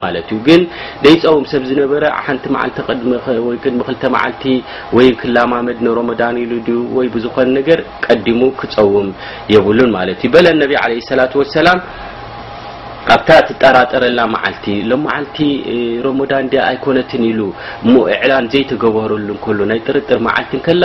ማለት እዩ ግን ደይፀውም ሰብ ዝነበረ ሓንቲ መዓልቲ ቅድሚ ወይ ቅድሚ ክልተ መዓልቲ ወይ ክላማመድ ንሮመዳን ኢሉ ድዩ ወይ ብዝኾነ ነገር ቀዲሙ ክፀውም የብሉን ማለት እዩ በለ ነቢ ዓለይሂ ሰላቱ ወሰላም ኣብታ ትጠራጠረላ መዓልቲ ሎመዓልቲ ሮሞዳን ድያ ኣይኮነትን ኢሉ እሞ እዕላን ዘይተገበረሉ እንከሎ ናይ ጥርጥር መዓልቲ እንከላ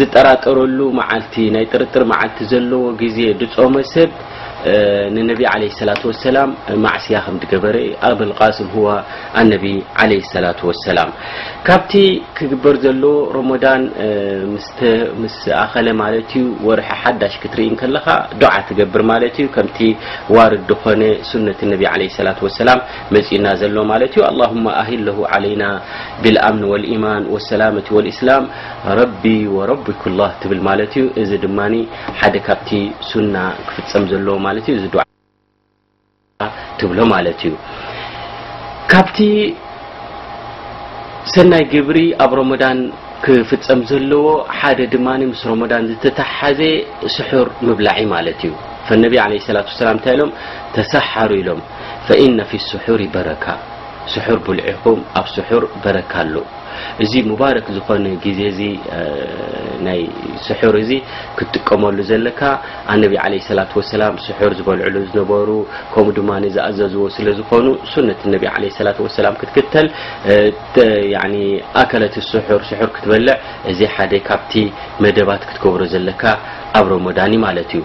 ዝጠራጠረሉ መዓልቲ ናይ ጥርጥር መዓልቲ ዘለዎ ግዜ ድጾመ ሰብ ንነቢ ዓለይሂ ሰላቱ ወሰላም ማዕስያ ከም ድገበረ ኣብል ቃስም ሁዋ ኣነቢ ዓለይሂ ሰላቱ ወሰላም ካብቲ ክግበር ዘለዎ ሮሞዳን ምስ ኣኸለ ማለት እዩ ወርሒ ሓዳሽ ክትርኢ እንከለኻ ዱዓ ትገብር ማለት እዩ ከምቲ ዋርድ ድኾነ ሱነት ነቢ ዓለይሂ ሰላቱ ወሰላም መጺኡና ዘሎ ማለት እዩ ኣላሁማ ኣሂለሁ ዓለይና ቢልኣምን ወልኢማን ወሰላመቲ ወልኢስላም ረቢ ወረቢኩላህ ትብል ማለት እዩ እዚ ድማ ሓደ ካብቲ ሱና ክፍጸም ዘለዎ ማለት እዩ እዚ ዱዓ ትብሎ ማለት እዩ ካብቲ ሰናይ ግብሪ ኣብ ሮሞዳን ክፍጸም ዘለዎ ሓደ ድማ ምስ ሮሞዳን ዝተተሓሓዘ ስሑር ምብላዒ ማለት እዩ ፈነቢ ዓለ ሰላት ሰላም እንታይ ኢሎም ተሰሓሩ ኢሎም ፈኢነ ፊ ስሑሪ በረካ ስሑር ብልዒኹም ኣብ ስሑር በረካ ኣሎ እዚ ሙባረክ ዝኾነ ግዜ እዚ ናይ ስሑር እዚ ክትጥቀመሉ ዘለካ ኣነቢ ዓለይሂ ሰላቱ ወሰላም ስሑር ዝበልዕሉ ዝነበሩ ከምኡ ድማ ዝኣዘዝዎ ስለ ዝኾኑ ሱነት ነቢ ዓለይሂ ሰላቱ ወሰላም ክትክተል ያኒ ኣከለት ስሑር ስሑር ክትበልዕ እዚ ሓደ ካብቲ መደባት ክትገብሮ ዘለካ ኣብ ረመዳን ማለት እዩ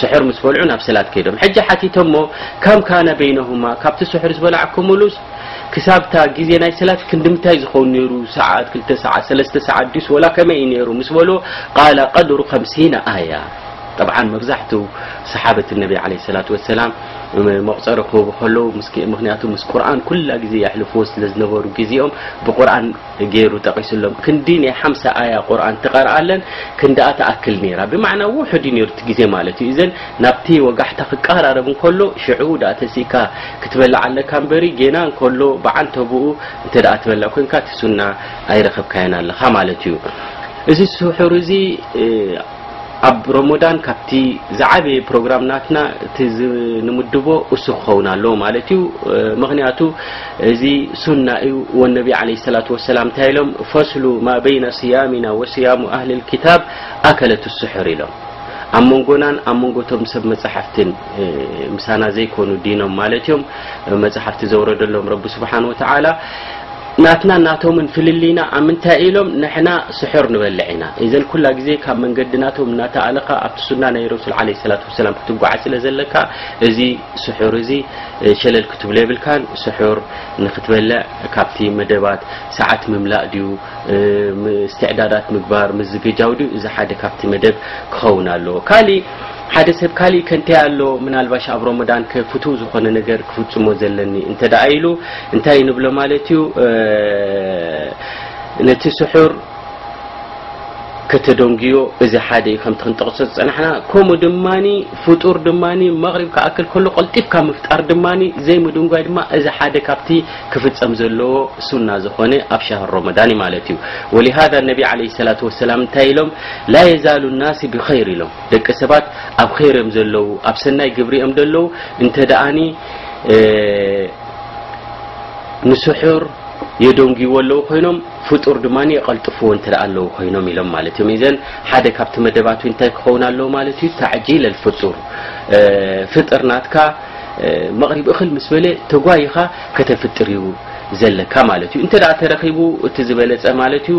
ስሑር ምስ በልዑ ናብ ሰላት ከይዶም ሕጂ ሓቲቶሞ ከም ካነ በይነሁማ ካብቲ ስሑር ዝበላዕኩምሉስ ክሳብታ ግዜ ናይ ሰላት ክንዲምታይ ዝኸውን ነይሩ ሰዓት ክልተ ሰዓት ሰለስተ ሰዓት ድዩስ ወላ ከመይ እዩ ነይሩ ምስ በልዎ ቃለ ቀድሩ ከምሲነ ኣያ ጠብዓን መብዛሕትኡ ሰሓበት ነቢ ዓለ ሰላት ወሰላም መቑፀሪ ክህቡ ከለዉ ምክንያቱ ምስ ቁርን ኩላ ግዜ የሕልፍዎ ስለ ዝነበሩ ግዜኦም ብቁርን ገይሩ ጠቒሱሎም ክንዲ ናይ ሓምሳ ኣያ ቁርኣን ትቐርኣለን ክንድኣ ትኣክል ነይራ ብማዕና ውሑድ እዩ ነይሩ እቲ ግዜ ማለት እዩ እዘን ናብቲ ወጋሕታ ክቀራረብ እንከሎ ሽዑ ድኣ ተሲእካ ክትበልዕ ኣለካ እምበሪ ጌና እንከሎ ብዓንተብኡ እንተ ድኣ ትበልዕ ኮንካ እቲ ሱና ኣይረኸብካዮን ኣለኻ ማለት እዩ እዚ ስሑር እዚ ኣብ ሮሞዳን ካብቲ ዝዓበየ ፕሮግራም ናትና እቲ ንምድቦ እሱ ክኸውን ኣለዎ ማለት እዩ ምክንያቱ እዚ ሱና እዩ ወነቢ ዓለይሂ ሰላቱ ወሰላም እንታይ ኢሎም ፈስሉ ማ በይነ ስያሚና ወስያሙ ኣህሊ ልኪታብ ኣከለት ስሑር ኢሎም ኣብ መንጎናን ኣብ መንጎቶም ሰብ መፅሓፍትን ምሳና ዘይኮኑ ዲኖም ማለት እዮም መፅሓፍቲ ዘውረደሎም ረቢ ስብሓን ወተዓላ ናትናን ናቶምን ፍልልይና ኣብ ምንታይ እዩ ኢሎም ንሕና ስሑር ንበልዕ ኢና ኢዘን ኩላ ግዜ ካብ መንገዲ ናቶም እናተኣለኻ ኣብቲ ሱና ናይ ረሱል ዓለይሂ ሰላቱ ወሰላም ክትጓዓዝ ስለ ዘለካ እዚ ስሑር እዚ ሸለል ክትብሎ የብልካን ስሑር ንክትበልዕ ካብቲ መደባት ሰዓት ምምላእ ድዩ ምስትዕዳዳት ምግባር ምዝግጃው ድዩ እዚ ሓደ ካብቲ መደብ ክኸውን ኣለዎ ካሊእ ሓደ ሰብ ካሊእ ከ እንታይ ኣሎ ምናልባሽ ኣብ ሮሞዳን ከ ፍቱው ዝኾነ ነገር ክፍፅሞ ዘለኒ እንተ ደኣ ኢሉ እንታይ ንብሎ ማለት እዩ ነቲ ስሑር ከተደንግዮ እዚ ሓደ እዩ ከምቲ ክንጠቕሶ ዝፀናሕና ከምኡ ድማ ፍጡር ድማ መቕሪብ ክኣክል ከሎ ቀልጢፍካ ምፍጣር ድማ ዘይምድንጓይ ድማ እዚ ሓደ ካብቲ ክፍፀም ዘለዎ ሱና ዝኾነ ኣብ ሻህር ሮሞዳን ማለት እዩ ወሊሃዛ ነቢ ዓለይሂ ሰላቱ ወሰላም እንታይ ኢሎም ላ የዛሉ ናሲ ብኸይር ኢሎም ደቂ ሰባት ኣብ ኸይር እዮም ዘለዉ ኣብ ሰናይ ግብሪ እዮም ዘለዉ እንተ ደኣኒ ንስሑር የደንጉዎ ኣለዉ ኮይኖም ፍጡር ድማ የቐልጥፍዎ እንተ ኣለዉ ኮይኖም ኢሎም ማለት እዮም ዘን ሓደ ካብቲ መደባት እንታይ ክኸውን ኣለዉ ማለት እዩ ታዕጂል ኣልፍጡር ፍጥር ናትካ መቕሪብ እኽል ምስ በለ ተጓይኻ ከተፍጥር እዩ ዘለካ ማለት እዩ እንተ ተረኺቡ እቲ ዝበለፀ ማለት እዩ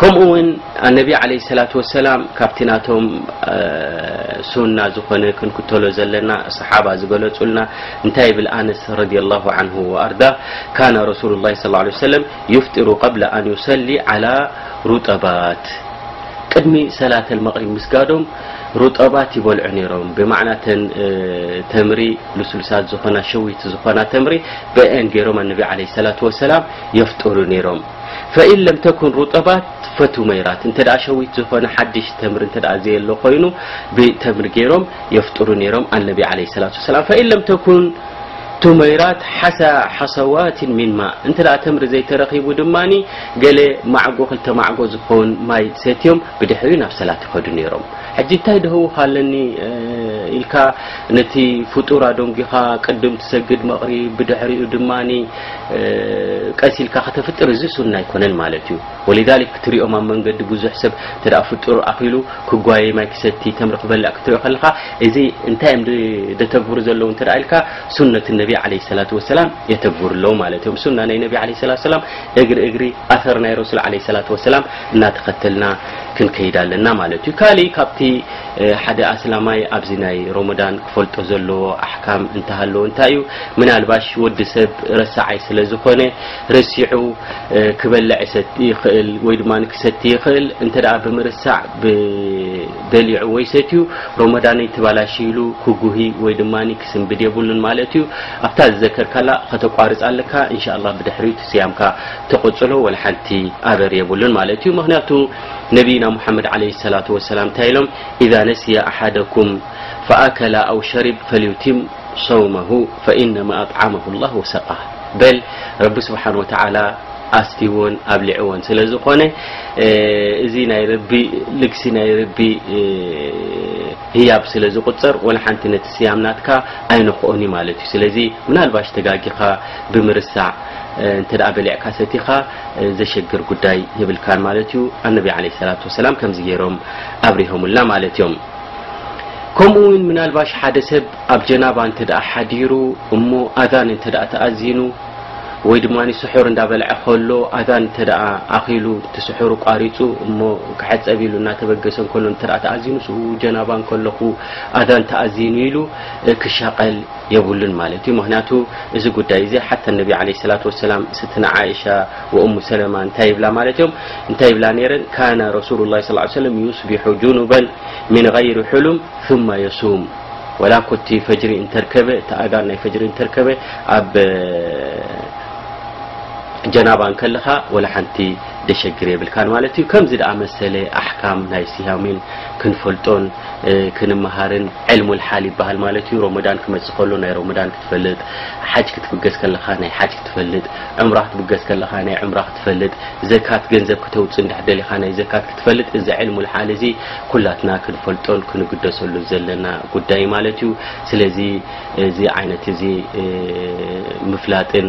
ከምኡ ውን ኣነቢ ዓለይሂ ሰላቱ ወሰላም ካብቲ ናቶም ሱና ዝኾነ ክንክተሎ ዘለና ሰሓባ ዝገለጹልና እንታይ ይብል ኣነስ ረዲየላሁ ዓንሁ ወኣርዳ ካነ ረሱሉላሂ ሰለላሁ ዓለይሂ ወሰለም ዩፍጢሩ ቀብለ ኣን ዩሰሊ ዓላ ሩጠባት ቅድሚ ሰላተ መቕሪብ ምስጋዶም ሩጠባት ይበልዑ ነይሮም ብማዕና ተን ተምሪ ልስሉሳት ዝኾና ሸዊት ዝኾና ተምሪ ብአን ገይሮም ኣነቢ ዓለ ሰላት ወሰላም የፍጥሩ ነይሮም ፈኢን ለም ተኩን ሩጠባት ፈቱመይራት እንተ ሸዊት ዝኾነ ሓድሽ ተምሪ እንተ ዘየሎ ኮይኑ ብተምሪ ገይሮም የፍጥሩ ነይሮም ኣነቢ ዓለይሂ ሰላቱ ወሰላም ፈኢን ለም ተኩን ቱመይራት ሓሳ ሓሰዋት ሚን ማ እንተ ተምሪ ዘይተረኺቡ ድማ ገለ ማዕጎ ክልተ ማዕጎ ዝኸውን ማይ ሰትዮም ብድሕሪ ናብ ሰላት ይኸዱ ነይሮም ሕጂ እንታይ ደህውካ ኣለኒ ኢልካ ነቲ ፍጡር ኣዶንጊኻ ቅድም ትሰግድ መቕሪብ ብድሕሪኡ ድማ ቀስ ኢልካ ከተፍጥር እዚ ሱና ኣይኮነን ማለት እዩ ወሊዛሊክ ክትሪኦም ኣብ መንገዲ ብዙሕ ሰብ እንተ ፍጡር ኣኺሉ ክጓየ ማይ ክሰቲ ተምሪ ክበልዕ ክትሪኦ ከለኻ እዚ እንታይ እዮም ደተግብሩ ዘለዉ እንተ ኢልካ ሱነት ነቢ ዓለይሂ ሰላቱ ወሰላም የተግብሩ ኣለዉ ማለት እዮም ሱና ናይ ነቢ ዓለይሂ ሰላቱ ወሰላም እግሪ እግሪ ኣሰር ናይ ረሱል ዓለይሂ ሰላቱ ወሰላም እናተኸተልና ክንከይድ ኣለና ማለት እዩ ካሊእ ካብቲ ሓደ ኣስላማይ ኣብዚ ናይ ሮሞዳን ክፈልጦ ዘለዎ ኣሕካም እንተሃለወ እንታይ እዩ? ምናልባሽ ወዲ ሰብ ረሳዓይ ስለ ዝኾነ ረሲዑ ክበልዕ ይሰቲ ይኽእል ወይ ድማ ክሰቲ ይኽእል እንተ ብምርሳዕ በሊዑ ወይ ሰትዩ ሮሞዳነይ ትባላሽ ኢሉ ክጉሂ ወይ ድማ ክስንብድ የብሉን ማለት እዩ። ኣብታ ዝዘከርካላ ከተቋርፅ ኣለካ እንሻ ኣላህ ብድሕሪኡ እቲ ስያምካ ተቐፅሎ ወላ ሓንቲ ኣበር የብሉን ማለት እዩ። ምክንያቱ ነቢይና ሙሓመድ ዓለይሂ ሰላቱ ወሰላም እንታይ ኢሎም ኢዛ ነሲየ ኣሓደኩም ፈኣከለ ኣው ሸሪብ ፈልዩቲም ሰውመሁ ፈኢነማ ኣጥዓመሁ ላህ ወሰቃህ በል ረቢ ስብሓን ወተዓላ ኣስትይዎን ኣብሊዕዎን ስለ ዝኾነ እዚ ናይ ረቢ ልግሲ ናይ ረቢ ህያብ ስለ ዝቁፅር ወላ ሓንቲ ነቲ ስያም ናትካ ኣይነክኦን እዩ ማለት እዩ ስለዚ ምናልባሽ ተጋጊኻ ብምርሳዕ እንተ በሊዕካ ሰቲኻ ዘሸግር ጉዳይ የብልካን ማለት እዩ ኣነቢ ዓለይሂ ሰላቱ ወሰላም ከምዚ ገይሮም ኣብሪሆምልና ማለት እዮም ከምኡ እውን ምናልባሽ ሓደ ሰብ ኣብ ጀናባ እንተ ደኣ ሓዲሩ እሞ ኣዛን እንተ ደኣ ተኣዚኑ ወይ ድማ ስሑር እንዳበልዐ ከሎ ኣዛን እንተ ደኣ ኣኺሉ እቲ ስሑሩ ቋሪፁ እሞ ክሕፀብ ኢሉ እናተበገሰ እንከሎ እንተ ደኣ ተኣዚኑ ስኡ ጀናባ እንከለኹ ኣዛን ተኣዚኑ ኢሉ ክሻቐል የብሉን ማለት እዩ ምክንያቱ እዚ ጉዳይ እዚ ሓታ ነቢ ለ ሰላት ወሰላም ስትና ዓእሻ ወእሙ ሰለማ እንታይ ይብላ ማለት እዮም እንታይ ይብላ ነይረን ካነ ረሱሉ ላ ስ ሰለም ዩስቢሑ ጁኑበን ምን غይሪ ሕሉም ثማ የሱም ወላ ኮቲ ፈጅሪ እንተርከበ እቲ ኣዳን ናይ ፈጅሪ እንተርከበ ኣብ ጀናባ እንከለኻ ወላ ሓንቲ ደሸግር የብልካን ማለት እዩ ከምዚ ደኣ መሰለ ኣሕካም ናይ ስያሚን ክንፈልጦን ክንመሃርን ዕልሙል ሓል ይበሃል ማለት እዩ ሮመዳን ክመፅእ ከሎ ናይ ሮመዳን ክትፈልጥ ሓጅ ክትብገስ ከለኻ ናይ ሓጅ ክትፈልጥ ዕምራ ክትብገስ ከለኻ ናይ ዕምራ ክትፈልጥ ዘካት ገንዘብ ክተውፅእ እንድሕር ደሊኻ ናይ ዘካት ክትፈልጥ እዚ ዕልሙል ሓል እዚ ኩላትና ክንፈልጦን ክንግደሰሉን ዘለና ጉዳይ ማለት እዩ ስለዚ እዚ ዓይነት እዚ ምፍላጥን